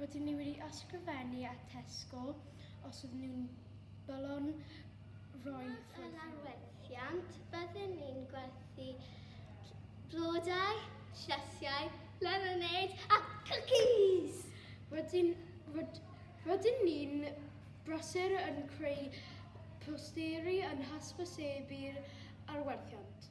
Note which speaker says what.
Speaker 1: Rydyn ni wedi ysgrifennu at Tesco os ydyn nhw'n balon roi ffwrdd. Yn arwerthiant, byddwn ni'n gwerthu blodau, llesiau, lemonade a cwcis! Rydyn, ryd, rydyn ni'n brysur yn creu posteri yn hysbysebu'r arwerthiant.